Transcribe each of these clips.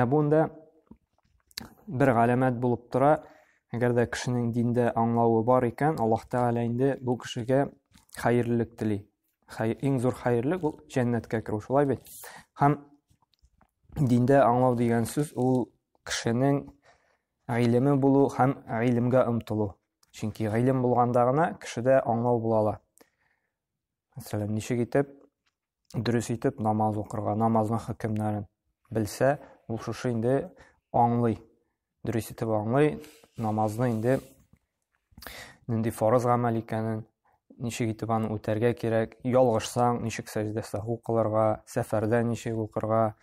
ә бунда бер галәмәт булып тора әгәр дә кешенең диндә аңлавы бар икән аллаһ тәғәлә инде бу кешегә хәерлелек тели иң зур хәерлек ул жәннәткә керү шулай бит һәм диндә аңлау дигән сүз ул кешенең гыйлеме булу һәм гыйлемгә омтылу чөнки гыйлем булганда гына кешедә аңлау була ала мәсәлән ничек итеп дөрес итеп намаз укырга, намазның хөкемнәрен белсә, ул шушы инде аңлый. Дөрес итеп аңлый, намазны инде нинди фарыз гамәл икәнен, ничек итеп аны үтәргә кирәк, ялгышсаң, ничек сәҗдә саху кылырга, сәфәрдә ничек укырга,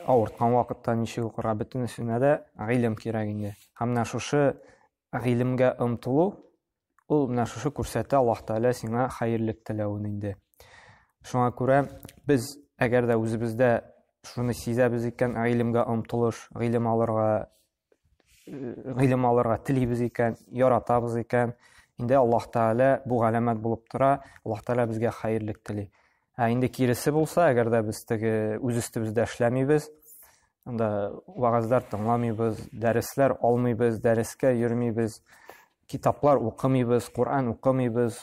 авырткан вакытта ничек укырга бөтенесенә дә гыйлем кирәк инде һәм менә шушы гыйлемгә омтылу Ул менә шушы күрсәтә Аллаһ Тәгалә сиңа хәерлек теләвен инде. Шуңа күрә без әгәр дә үзебездә шуны сизәбез икән, гыйлемгә омтылыш, гыйлем алырга гыйлем алырга телибез икән, яратабыз икән, инде Аллаһ Тәгалә бу галәмәт булып тора, Аллаһ Тәгалә безгә хәерлек тели. Ә инде киресе булса, әгәр дә без теге үз өстебездә эшләмибез, анда вагазлар тыңламыйбыз, дәресләр алмыйбыз, дәрескә йөрмибез, Китаплар укымыйбыз, Коръән укымыйбыз,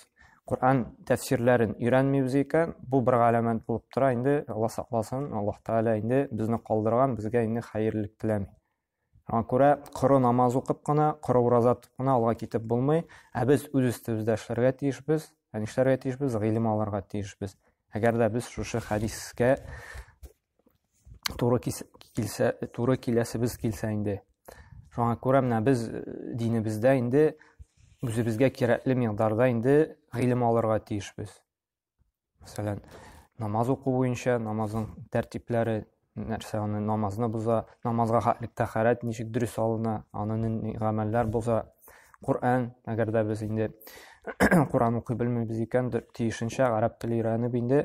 Коръән тәфсирләрен өйрәнмибез икән, бу бер галәмәт булып тора инде, Алла сакласын, Аллаһ Тәгалә инде безне калдырган, безгә инде хәерлелек теләми. Шуңа күрә коры намаз укып кына, коры ураза тотып кына алга китеп булмый, ә без үз өстебездә эшләргә тиешбез, ә нишләргә тиешбез, гыйлем алырга тиешбез. Әгәр дә без шушы хәдискә туры килсә туры киләсебез килсә инде шуңа күрә менә без э, динебездә инде үзебезгә кирәкле миңдарда инде гыйлем алырга тиешбез мәсәлән намаз уку буенча намазның тәртипләре нәрсә аны намазны боза намазга тәхәрәт ничек дөрес алына аны гамәлләр боза Коран, әгәр дә без инде Коран укый белмибез икән, тиешенчә гарәп теле өйрәнеп инде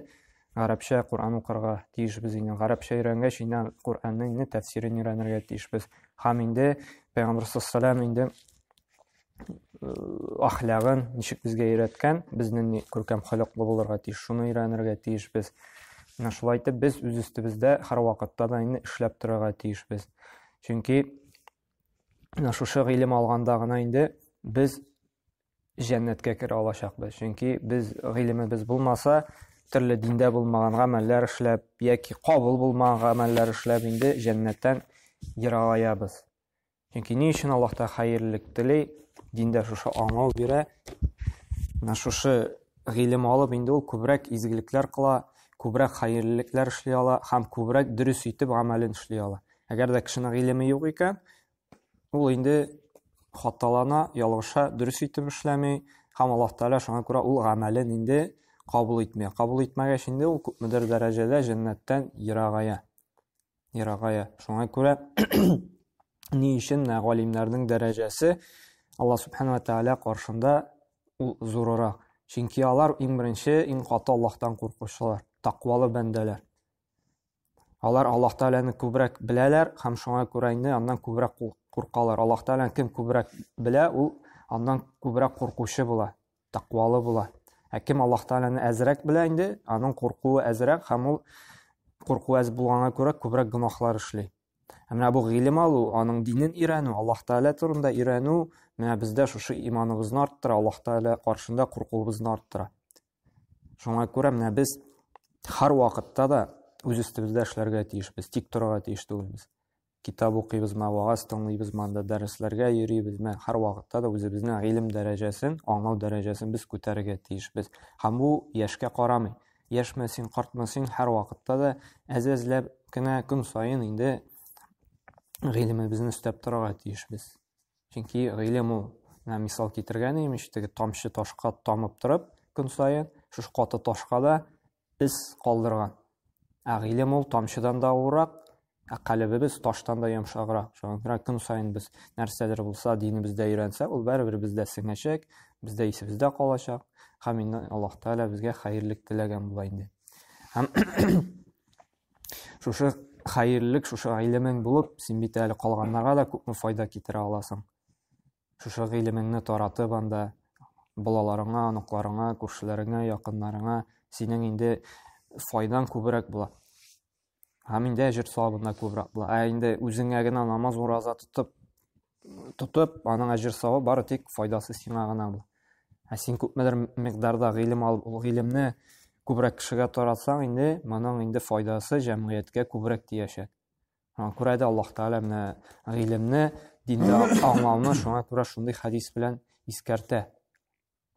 гарәпчә Коръән укырга тиешбез инде. Гарәпчә өйрәнгәч, инде Коръәннең инде тәфсирен өйрәнергә тиешбез. Һәм инде Пәйгамбәр саллаллаху инде э, ахлагын ничек безгә өйрәткән, безнең ни күркәм холыклы булырга тиеш, шуны өйрәнергә тиешбез. Менә шулай итеп без үз өстебездә һәрвакытта да инде эшләп торырга тиешбез. Чөнки менә шушы гыйлем алганда гына инде без җәннәткә керә алачакбыз. Чөнки без гыйлемебез булмаса, төрле диндә булмаган гамәлләр эшләп яки кабул булмаган гамәлләр эшләп инде җәннәттән ерагаябыз. Чөнки ни өчен Аллаһ та хәерлек тели, диндә шушы аңлау бирә. Менә шушы гыйлем алып инде ул күбрәк изгелекләр кыла, күбрәк хәерлелекләр эшли ала һәм күбрәк дөрес итеп гамәлен эшли ала. Әгәр дә кешенең гыйлеме юк икән, Ул инде хаталана, ялгыша, дөрес итеп эшләми, һәм Аллаһ Тәгалә шуңа күрә ул гамәлен инде кабул итми. Кабул итмәгәч инде ул күпмедер дәрәҗәдә җәннәттән ерагая. Ерагая. Шуңа күрә ни өчен галимнәрнең дәрәҗәсе Аллаһ Субхану Тәгалә каршында ул зурырак. Чөнки алар иң беренче, иң каты Аллаһтан куркучылар, тәкъвалы бәндәләр. Алар Аллаһ Тәгаләне күбрәк беләләр һәм шуңа күрә инде аннан күбрәк куркалар. Аллаһ Тәгаләне кем күбрәк белә, ул аннан күбрәк куркучы була, тәкъвалы була. Ә кем Аллаһ Тәгаләне әзрәк белә инде, аның куркуы әзрәк һәм ул курку әз булганга күрә күбрәк гөнаһлар эшли. Ә менә бу гыйлем алу, аның динен өйрәнү, Аллаһ Тәгалә турында өйрәнү, менә бездә шушы иманыбызны арттыра, Аллаһ Тәгалә каршында куркуыбызны арттыра. Шуңа күрә менә без һәр вакытта да үз өстебездә эшләргә тиешбез, тик торырга тиеш түгелбез. Китап укыйбызмы, вагаз тыңлыйбызмы, анда дәресләргә йөрибезме, һәр вакытта да үзебезнең гыйлем дәрәҗәсен, аңлау дәрәҗәсен без күтәрергә тиешбез. Һәм бу яшькә карамый. Яшьме син, картмы син, һәр вакытта да әз-әзләп кенә көн саен инде гыйлемебезне өстәп торырга тиешбез. Чөнки гыйлем ул, менә мисал китергән идем, теге тамчы ташка тамып торып, көн саен шушы каты ташка да из калдырган. Ә гыйлем ул тамчыдан да авырак, ә калебебез таштан да йомшаграк. Шуңа күрә көн саен без нәрсәдер булса динебездә өйрәнсә, ул барыбер бездә сеңәчәк, бездә исебездә калачак. Һәм инде Аллаһ Тәгалә безгә хәерлек теләгән була инде. Һәм Шушы хәерлек, шушы гыйлемең булып, син бит әле калганнарга да күпме файда китерә аласың. Шушы гыйлемеңне таратып анда балаларыңа, оныкларыңа, күршеләреңә, якыннарыңа синең инде файдаң күбрәк була. Һәм инде әҗер савабында күбрәк була. Ә инде үзеңә генә намаз ураза тотып, тотып, аның әҗер савы бары тик файдасы сиңа гына бу. Ә син күпмедер микъдарда гыйлем алып, ул гыйлемне күбрәк кешегә таратсаң, инде моның инде файдасы җәмгыятькә күбрәк тиячәк. Аңа күрә дә Аллаһ Тәгалә менә гыйлемне, динне аңлауны шуңа күрә шундый хадис белән искәртә.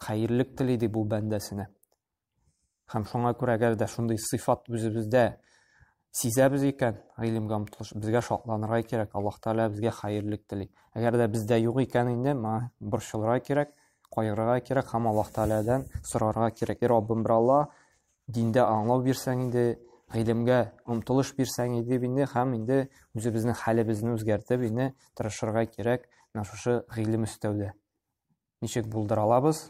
хәерлек тели ди бу бәндәсенә. Һәм шуңа күрә әгәр дә шундый сыйфат үзебездә сизәбез икән, гыйлемгә омтылыш, безгә шатланырга кирәк, Аллаһ Тәгалә безгә хәерлек тели. Әгәр дә бездә юк икән инде, моңа борчылырга кирәк, кайгырырга кирәк һәм Аллаһ Тәгаләдән сорарга кирәк. И Раббым, бер Алла, диндә аңлау бирсәң инде, гыйлемгә омтылыш бирсәң иде инде һәм инде үзебезнең хәлебезне үзгәртеп инде тырышырга кирәк менә шушы гыйлем өстәүдә. ничек булдыра алабыз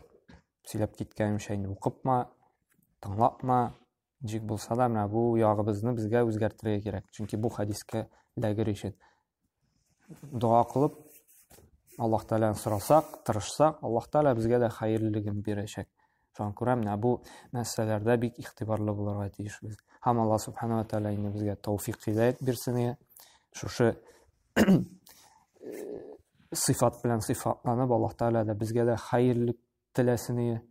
сөйләп киткәнемчә инде укыпма тыңлапма ничек булса да менә бу ягыбызны безгә үзгәртергә кирәк чөнки бу хәдискә эләгер өчен дога кылып аллаһ тәгаләдән сорасак тырышсак аллаһ тәгалә безгә дә хәерлелеген бирәчәк Шуңа күрә менә бу мәсьәләләрдә бик игътибарлы булырга тиешбез. Һәм Алла субханала тәгалә инде безгә тауфик хидәят бирсен иде. Шушы сыйфат белән сыйфатланып Алла тәгалә дә безгә дә хәерлек теләсен иде.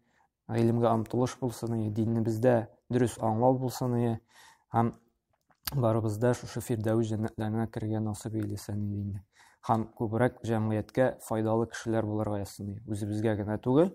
Гыйлемгә омтылыш булсын иде, динебездә дөрес аңлау булсын иде. Һәм барыбызда шушы фирдәвис җәннәтләренә керергә насыйп эйләсен иде инде. Һәм күбрәк җәмгыятькә файдалы кешеләр булырга язсын иде. Үзебезгә генә түгел,